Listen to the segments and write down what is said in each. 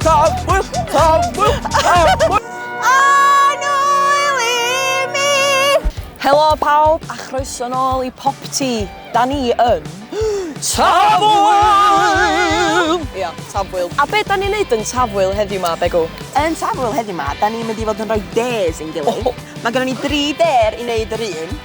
Tafwyl! Tafwyl! Tafwyl! Helo pawb a chroeso nôl i Pop Tea. Da ni yn... Tafwyl! Ia, Tafwyl. A be da ni'n neud yn Tafwyl heddiw ma, Begw? Yn Tafwyl heddiw ma, da ni'n mynd i fod yn rhoi dares i'n gilydd. Mae gennym ni dri dare i wneud yr un.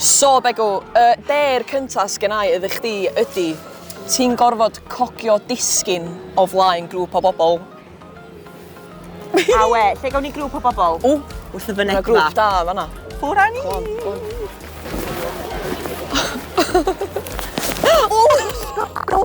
So Begw, y der cyntaf sgennau iddi chdi ydy, ti'n gorfod cogio disgyn o flaen grŵp o bobl. Awe, lle gawn ni grŵp o bobl? O, wrth y fynedfa. Mae grŵp da fanna. Ffwr â ni! O!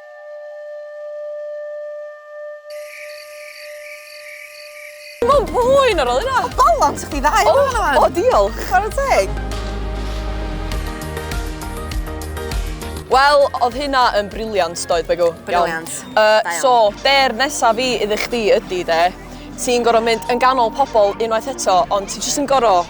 Mae'n bwyn ar ôl yna. O, balon, sa'ch di ddau o, yna. O, diolch. Chwarae teg. Wel, oedd hynna yn briliant, doedd, Begw? Briliant. Uh, so, be'r nesaf fi iddo chdi ydy, de, ti'n gorfod mynd yn ganol pobl unwaith eto, ond ti jyst yn gorfod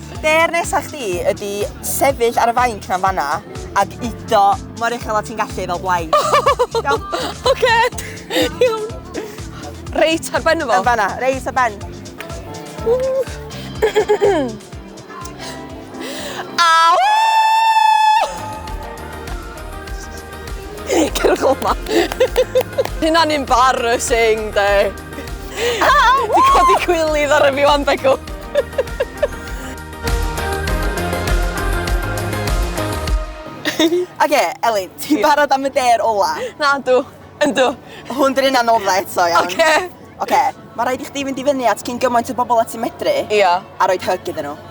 Be'r nesa chdi ydi sefyll ar y fainc na'n fanna ac udo mor uchel a ti'n gallu fel blaid. Iawn? Oce! Iawn. Reit ar ben o fo? Yn fanna, reit ar ben. Aw! Cerwch o ma. Hynna'n embarrassing de. Di codi cwylydd ar y fi wan, Begw. Oce, okay, Elin, ti'n barod am y der ola? Na, dw. Yndw. Hwn dyn ni'n anoddau eto, iawn. Oce. Okay. Oce, okay. mae rhaid i chdi fynd i fyny at cyn gymaint o bobl at i medru. Ia. A roed hyg iddyn nhw.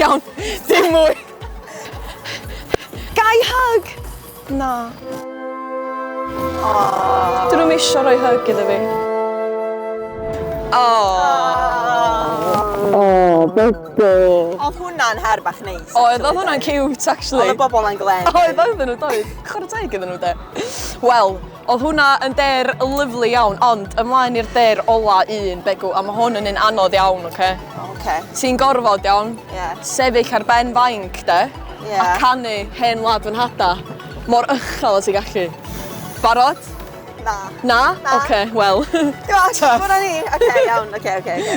Iawn, dim mwy. Gai hug? Na. Aww. Dyn nhw'm isio rhoi hug iddo fi. Aww. Aww, bebo. Oedd hwnna'n her bach neis. Oedd, oedd hwnna'n cute, actually. Oedd y bobl na'n glen. Oedd, oedd nhw, doedd. Chwarae teg iddyn nhw, de. Wel, Odd hwnna yn dêr lyfli iawn, ond ymlaen i'r dêr ola un, Begw, a ma' hwn yn un anodd iawn, oce? Oce. Ti'n gorfod, iawn? Ie. Sefyll ar ben fainc, de? Ie. A canu Hen Wlad Fy Nhada', mor uchel a ti'n gallu. Barod? Na. Na? Na. Oce, wel. Go on, ffwr â ni! Oce, iawn, oce, oce, oce.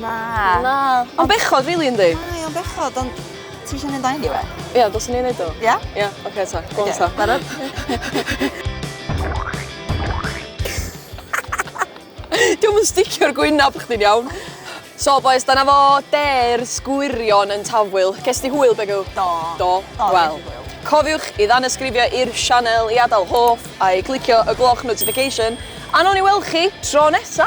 Na. Na. Ond bechod rili yndi? Mae o'n bechod ond ti isio mynd â hyn i fe? Ia dylswn i neud o. Ia? Ia oce 'ta. Go on 'ta. Barod? Dio'm yn sticio ar gwynab chdi'n iawn. So bois dyna fo dêrs gwirion yn Tafwyl. Ges di hwyl Begw? Do. Do? Do Wel, ges i hwyl. cofiwch i ddanysgrifio i'r sianel i adael hoff a'i glicio y gloch notification a nown ni weld chi tro nesa!